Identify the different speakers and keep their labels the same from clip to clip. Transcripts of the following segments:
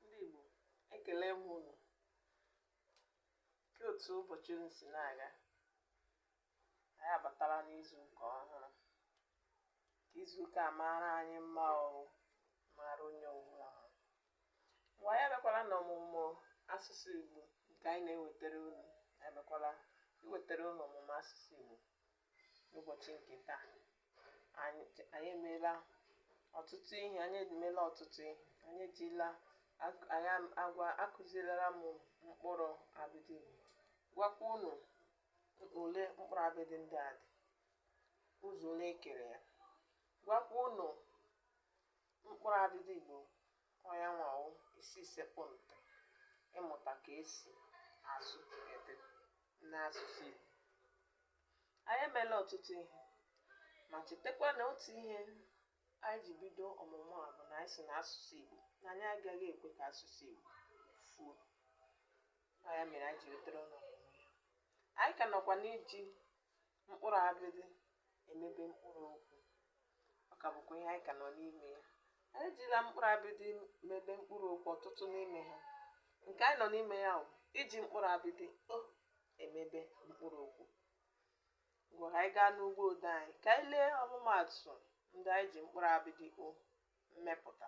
Speaker 1: ndị Igbo ekelee m unu kee otu ụbọchị unu si na-aga anyị abatala n'izu nke ọhụrụ ka izu ụka maara anyị mma ọrụ maara onye ọbụla ha ngwa anyị abịakwala na ọmụmụ asụsụ Igbo nke anyị na-ewetara unu anyị abịakwala iwetara unu ọmụmụ asụsụ Igbo n'ụbọchị nke taa anyị anyị emeela ọtụtụ ihe anyị emeela ọtụtụ ihe anyị ejila ak- anyị am- agwa akụzirila m mkpụrụ abịdị Igbo gwakwa unu ole mkpụrụ abịdị ndị a dị ụzọ ole e kere ya gwakwa unu mkpụrụ abịdị Igbo onye nwawo isi sekpụ ntị ịmụta ka e si asụ ede n'asụsụ Igbo anyị emela ọtụtụ ihe ma chetakwa na otu ihe anyị ji bido ọmụmụ a bụ na anyị sị na asụsụ Igbo na anyị agaghị ekwe ka asụsụ Igbo fuo ya mere anyị ji wetara unu anyị ka nọkwa n'iji mkpụrụ abịdị emebe mkpụrụ okwu ọ ka bụkwa ihe anyị ka nọ n'ime ya anyị ejila mkpụrụ abịdị mebe mkpụrụ okwu ọtụtụ n'ime ha nke anyị nọ n'ime ya bụ iji mkpụrụ abịdị o emebe mkpụrụ okwu ngwa anyị gaa n'ụgbọ ode anyị ka anyị lee ọmụmaatụ ndị anyị ji mkpụrụ abịdị o mepụta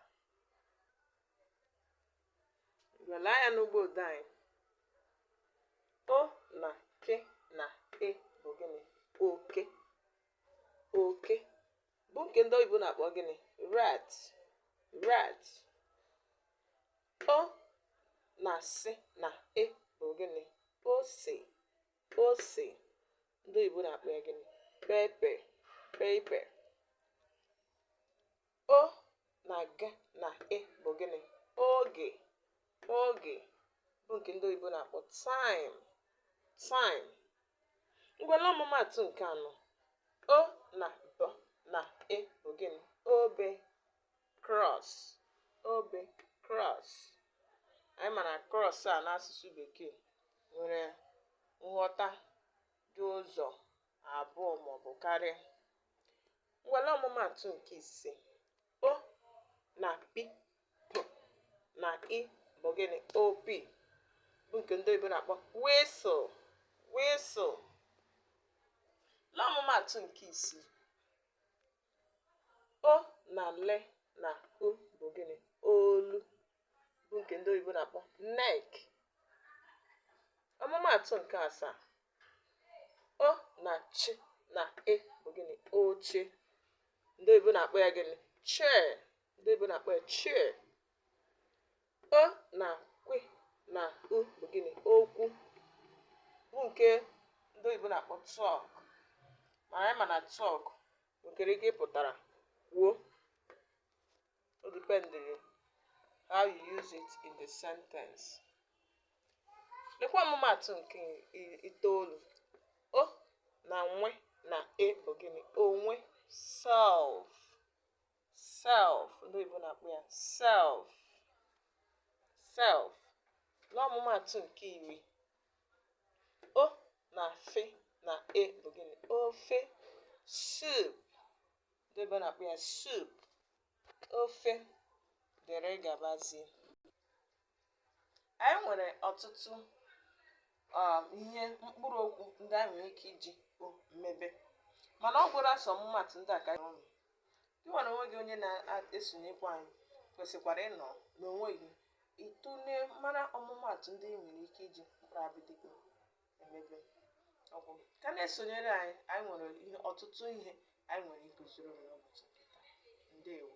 Speaker 1: ngwa lee anya n'ụgbọ ode anyị o na k na e bụ gịnị oke oke bụ nke ndị oyibo na-akpọ gịnị rat rat o na s na e bụ gịnị ose ose ndị oyibo na-akpọ ya gịnị pepper pepper o na g na e bụ gịnị oge oge bụ nke ndị oyibo na-akpọ time time ngwa lee ọmụmaatụ nke anọ o na b na e bụ gịnị obe cross obe cross anyị mara cross a n'asụsụ bekee nwere nghọta dị ụzọ abụọ maọbụ karịa ngwa lee ọmụmatụ nke ise o na p na i bụ gịnị opi bụ nke ndị oyibo na-akpọ whistle whistle lee ọmụmatụ nke isii O na l na u bụ gịnị? Olu bụ nke ndị oyibo na-akpọ neck. Ọmụmaatụ nke asaa. O na ch na e bụ gịnị? Oche. Ndị oyibo na-akpọ ya gịnị? Chair. Ndị oyibo na-akpọ ya chair. O na kwi na u bụ gịnị? Okwu bụ nke ndị oyibo na-akpọ talk ma anyị ma na talk nwekere ike ịpụtara kwuo o dependịrị how you use it in the sentence lekwa ọmụmaatụ nke i- itoolu o na nwe na e bụ gịnị onwe self self ndị oyibo na-akpọ ya self self n'ọmụmaatụ nke iri o na fe na e bụ gịnị ofe soup ndị oyibo na-akpọ ya soup ofe dere gabazie anyị nwere ọtụtụ um, ihe mkpụrụ okwu ndị anyị nwere ike iji o mebe mana ugboro a sọ ọmụmaatụ ndị a ka anyị ọnụ gị nwere onwe gị onye na-esonyekwa anyị kwesịkwara ịnọ n'onwe gị ịtụle mara ọmụmaatụ ndị ị nwere ike iji mkpụrụ abịdịị o mebe ọ bụ ka na-esonyere anyị anyị nwere ihe ọtụtụ ihe anyị nwere ịkụziri unu ụbọchị nke taa ndewo